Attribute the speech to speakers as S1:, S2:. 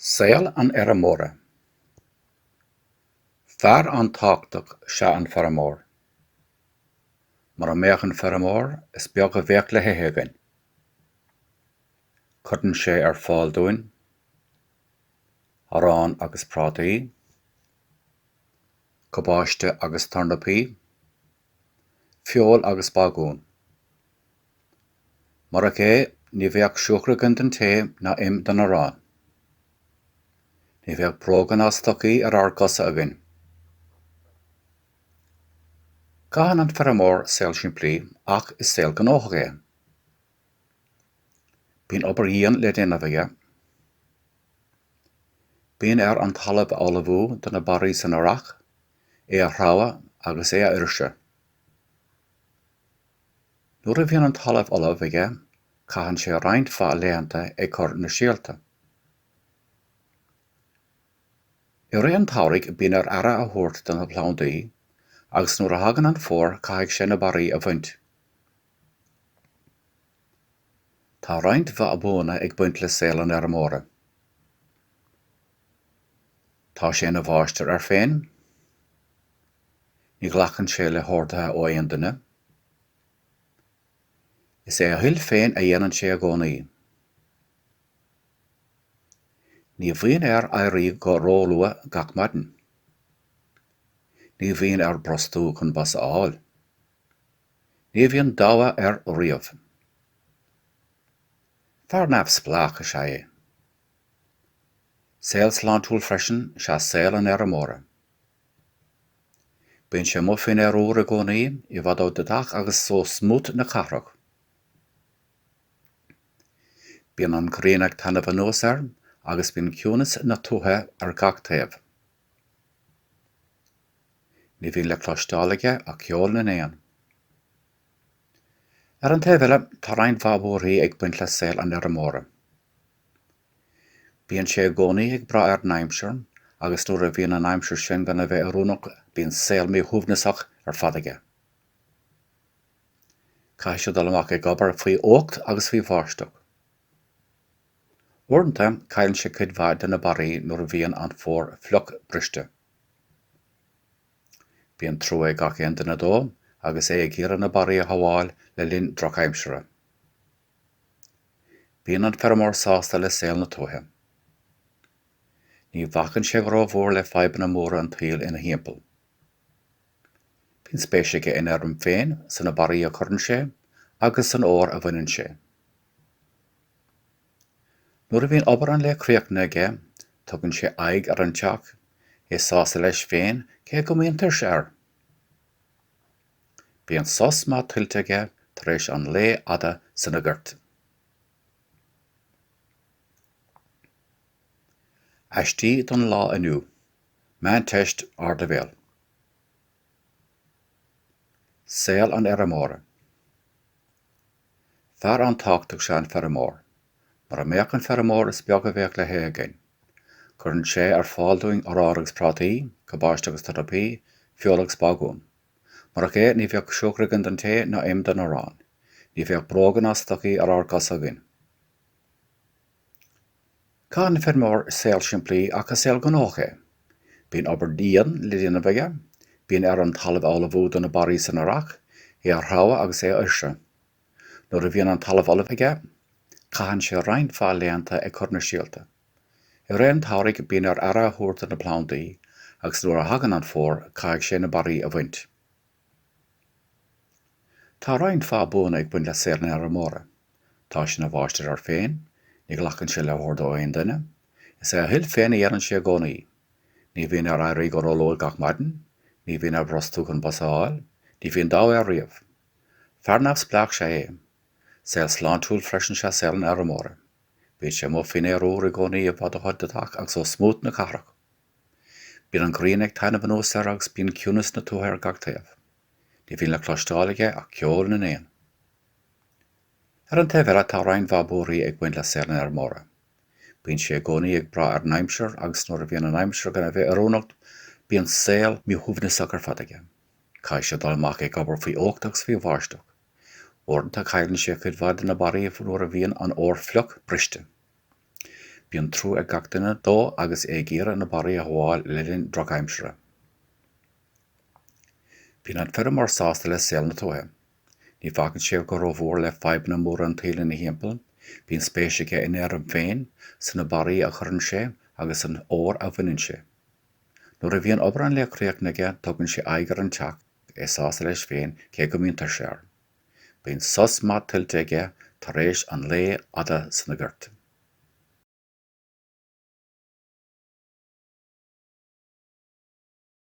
S1: Saol an Fheirmeora. Fear an-tábhachtach 'sea an feirmeoir. Mura mbeadh an feirmeoir, is beag a bheadh le hithe againn. Cuireann sé ar fáil dúinn arán agus prátaí, cabáiste agus tornapaí, feoil agus bagún. Murach é, ní bheadh siúcra againn don tae ná im don arán. Ní bheadh bróga ná stocaí ar ár gcosa againn. Caitheann an feirmeoir saol simplí ach is saol gnóthach é. Bíonn obair dhian le déanamh aige. Bíonn air an talamh a ullmhú do na barraí san earrach, é a threabhadh agus é a fhuirseadh. Nuair a bhíonn an talamh ullamh aige caitheann sé roinnt mhaith laethanta ag cur na síolta. I rith an tsamhraidh bíonn air aire a thabhairt do na plandaí agus nuair a thagann an fómhar caithfidh sé na barraí a bhaint. Tá roinnt mhaith buanna ag baint le saol an fheirmeora. Tá sé ina mháistir air féin. Ní ghlacann sé le horduithe ó aon duine. Is é a thoil féin a dhéanann sé i gcónaí. Ní bhíonn air éirí go róluath gach maidin. Ní bhíonn air brostú chun bus a fháil. Ní bhíonn deabhadh air riamh. Fear neamhspleách is ea é. Saol sláintiúil freisin is ea saol an fheirmeora. Bíonn sé amuigh faoin aer úr i gcónaí, i bhfad ó dheatach agus ó smúit na cathrach. Bíonn an ghrian ag taitneamh anuas air agus bíonn ciúnas na tuaithe ar gach taobh. Ní bhíonn le cloisteáil aige ach ceol na n-éan. Ar an taobh eile, tá roinnt mhaith buarthaí ag baint le saol an fheirmeora. Bíonn sé i gcónaí ag brath ar an aimsir agus nuair a bhíonn an aimsir sin gan a bheith oiriúnach bíonn saol míshuaimhneasach ar fad aige. Caithfidh sé dul amach ag obair faoi fhuacht agus faoi bháisteach. Uaireanta cailleann sé cuid mhaith de na barraí nuair a bhíonn an fómhar fliuch briste. Bíonn trua ag gach aon duine dó agus é ag iarraidh na barraí a shabháil le linn drochaimsire. Bíonn an feirmeoir sásta le saol na tuaithe. Ní bhacann sé go ró-mhór le fadhbanna móra an tsaoil ina thimpeall. Bíonn spéis aige ina fheirm féin, sna barraí a chuireann sé, agus san fhómhar a bhaineann sé. Nuair a bhíonn obair an lae críochnaithe aige, tugann sé aghaidh ar an teach, é sásta leis féin, cé go mbíonn tuirse air. Bíonn sos maith tuillte aige tar éis an lae fhada sna goirt. Aistí don lá inniu, Meánteist Ardleibhéil. Saol an fheirmeora. Fear an-tábhachtach is ea an feirmeoir. Mura mbeadh an feirmeoir is beag a bheadh le hithe againn. Cuireann sé ar fáil dúinn arán agus prátaí, cabáiste agus turnapaí, feoil agus bágún. Murach é, ní bheadh siúcra againn don tae ná im don arán. Ní bheadh bróga ná stocaí ar ár gcosa againn. Caitheann an feirmeoir saol simplí ach is saol gnóthach é. Bíonn obair dhian le déanamh aige, bíonn air an talamh a ullmhú do na barraí san earrach, é a threabhadh agus é a fhuirseadh. Nuair a bhíonn an talamh ullamh aige, caitheann sé roinnt mhaith laethanta ag cur na síolta. I rith an tsamhraidh bíonn air aire a thabhairt do na plandaí agus nuair a thagann an fómhar caithfidh sé na barraí a bhaint. Tá roinnt mhaith buanna ag baint le saol an fheirmeora. Tá sé ina mháistir air féin, ní ghlacann sé le hordú ó aon duine, is é a thoil féin a dhéanann sé i gcónaí, ní bhíonn air éirí go róluath gach maidin, ní bhíonn air brostú chun bus a fháil, ní bhíonn deabhadh air riamh. Fear neamhspleách is ea é. Saol sláintiúil freisin is ea saol an fheirmeora. Bíonn sé amuigh faoin aer úr i gcónaí i bhfad ó thoit na dteach agus ó smúit na cathrach. Bíonn an ghrian ag taitneamh anuas air agus bíonn ciúnas na tuaithe ar gach taobh. Ní bhíonn le cloisteáil aige ach ceol na n-éan. Ar an taobh eile, tá roinnt mhaith buarthaí ag baint le saol an fheirmeora. Bíonn sé i gcónaí ag brath ar an aimsir agus nuair a bhíonn an aimsir gan a bheith oiriúnach bíonn saol míshuaimhneasach ar fad aige. Caithfidh sé dul amach ag obair faoi fhuacht agus faoi bháisteach. Uaireanta cailleann sé cuid mhaith de na barraí nuair a bhíonn an fómhar fliuch briste. Bíonn trua ag gach duine dó agus é ag iarraidh na barraí a shábháil le linn drochaimsire. Bíonn an feirmeoir sásta le saol na tuaithe. Ní bhacann sé go rómhór le fadhbanna móra an tsaoil ina thimpeall, bíonn spéis aige ina fheirm féin, sna barraí a chuireann sé agus san fhómhar a bhaineann sé. Nuair a bhíonn obair an lae críochnaithe aige tugann sé aghaidh ar an teach. é sásta leis féin cé go mbíonn tuirse air. Bíonn sos maith tuillte aige tar éis an lae fhada sna goirt.